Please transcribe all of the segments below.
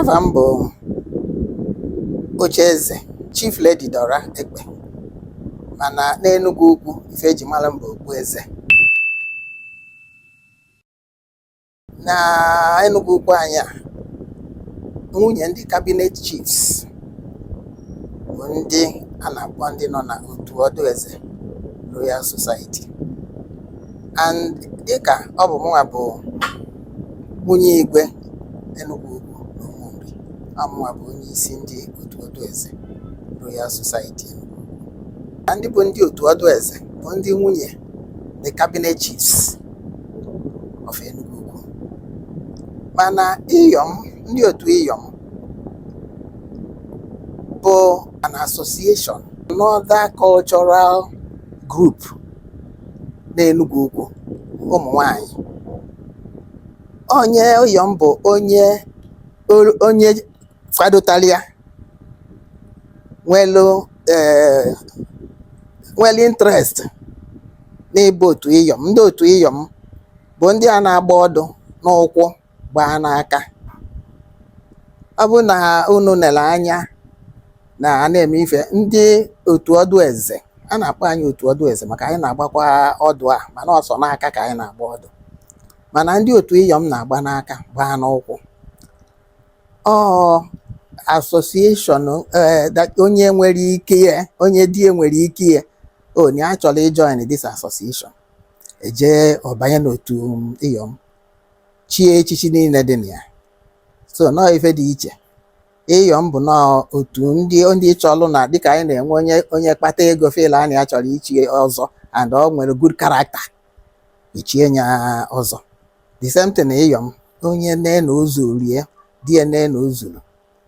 Afa m bụ Ocheeze Chief Lady Dora Ekpe mana n'Enugwu Ukwu ife eji mara m bụ Okpueze. Na Enugwu Ukwu anyị a nwunye ndị cabinet chiefs bụ ndị a na-akpọ ndị nọ na otu ọdụ eze Royal Society and dịka ọ bụ mụnwa bụ Nwunye Igwe Enugwu Ukwu na Ụmụnri amụwa bụ onye isi ndị otu ọdụ eze Royal Society Enugwu Ukwu. Na ndị bụ ndị otu ọdụ eze bụ ndị nwunye the cabinet chiefs of Enugwu Ukwu. Mana Iyom, ndị otu Iyom bụ an association, another cultural group na Enugwu Ukwu, ụmụ nwanyị onye iyom bụ onye olu- onye kwadotalụ ya nwelu eh, nwere interest n'ịba otu iyom ndị otu iyom bụ ndị a na-agba ọdụ n'ụkwụ gbaa n'aka ọ bụrụ na unu nere anya na a na-eme ife ndị otu ọdụ eze a na-akpọ anyị otu ọdụ eze maka anyị na-agbakwa ọdụ a mana ọ sọ n'aka ka anyị na-agba ọdụ mana ndị otu ịyọm na-agba n'aka gbaa n'ụkwụ ọ association onye nwere ike ya onye di ya nwere ike ya onye a chọrọ ijoin this association e jee ọ banye n'otu ịyọm chie echichi niile dị na ya so na ọ ife dị iche ịyọm bụ na ọ otu ndị ndị chọlụ na dịka anyị na-enwe onye onye kpata ego feel na nya chọrọ ichi ọzọ and ọ nwere good character e chie nya ọzọ the same thing ịyọm onye nee na o zuru ya di ya nee na o zuru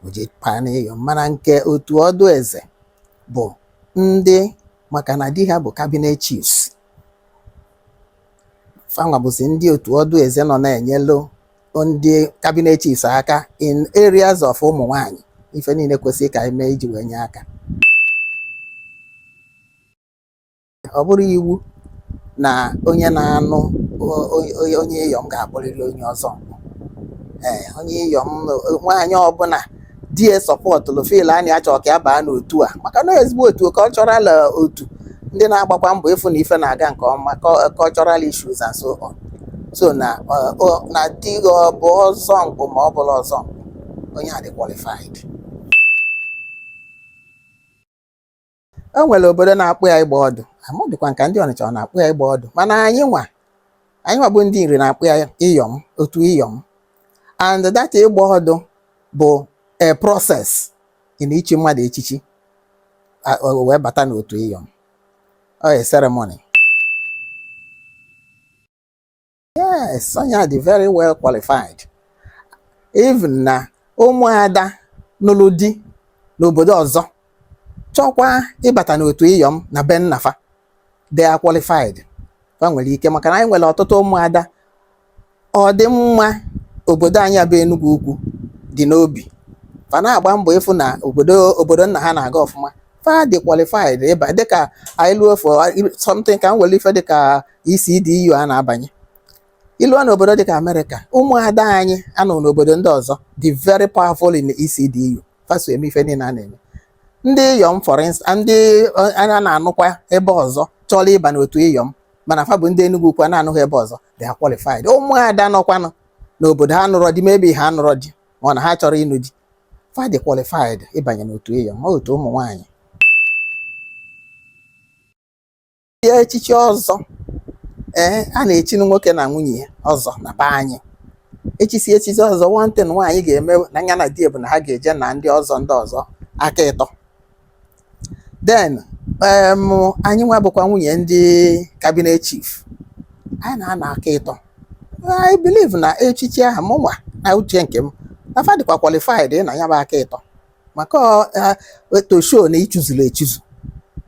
o jee baa na ịyọm mana nke otu ọdụ eze bụ ndị maka na di ha bụ cabinet chiefs fanwa bụzi ndị otu ọdụ eze nọ na-enyelu ndị cabinet chiefs aka in areas of ụmụ nwanyị ife niile kwesịrị ka anyị mee iji wee nye aka ọ bụrọ iwu na onye na-anụ onye ịyọm ga-abụrịrị onye ọzọ ee onye ịyọm nwaanyị ọbụla di ya supportụlụ feel na nya chọ ka ya baa n'otu a maka na ọ ezigbo otu cultural eh, otu ndị na-agbakwa mbọ ịfụ na ife na-aga nke ọma cul- cultural issues and so on so na eh, ọ- na di gị ọ bụ ọzọ mkpụ ma ọ bụrọ ọzọ mkpụ, onye a dị qualified o nwere obodo na-akpọ ya ịgba ọdụ amadịkwa m ka ndị ọnịcha ọ na-akpọ ya ịgba ọdụ mana anyị nwa anyị nwa bụ ndị nri na-akpọ ya ịyọm otu ịyọm and that ịgba ọdụ bụ a process in ichi mmadụ echichi a- o wee bata n'otu ịyọm ọ a ceremony yes onye dị very well qualified even na ụmụada nụrụ di n'obodo ọzọ chọkwa ịbata n'otu ịyọm na be nna fa they are qualified fa nwere ike maka na anyị nwere ọtụtụ ụmụada ọdịmma obodo anyị bụ Enugwu Ukwu dị n'obi fa na-agba mbọ ịfụ na obodo obodo nna ha na-aga ọfụma fa dị qualified ịba dịka anyị luo for something ka m were ife dịka ECDU a na-abanye i luo n'obodo dịka Amerịka ụmụada anyị nọ n'obodo ndị ọzọ dị very powerful in ECDU fa so eme ife niile a na-eme ndị iyom for instance ndị eh, anyị na-anụkwa ebe ọzọ chọrọ ịba n'otu iyom mana fa bụ ndị Enugwu Ukwu na-anụ di ebe ọzọ they are qualified ụmụada nọkwanụ n'obodo ha nụrọ di maybe ha nụrọ di ma na ha chọrọ ịnụ di fa dị qualified ịbanye n'otu iyom otu ụmụ nwaanyị ya echichi ọzọ ee a na-echi nwoke na nwunye ya ọzọ na be anyị e chisie echichi ọzọ one thing nwaanyị ga-eme na ya na di bụ na ha ga-eje na ndị ọzọ ndị ọzọ aka ịtọ then em anyị nwa bụkwa nwunye ndị cabinet chief anyị na-ana aka ịtọ I believe na echichi ahụ mụ nwa na uche nke m na fa dịkwa qualified na ya bụ aka ịtọ maka ọ, eh, to show na i chizuru echizu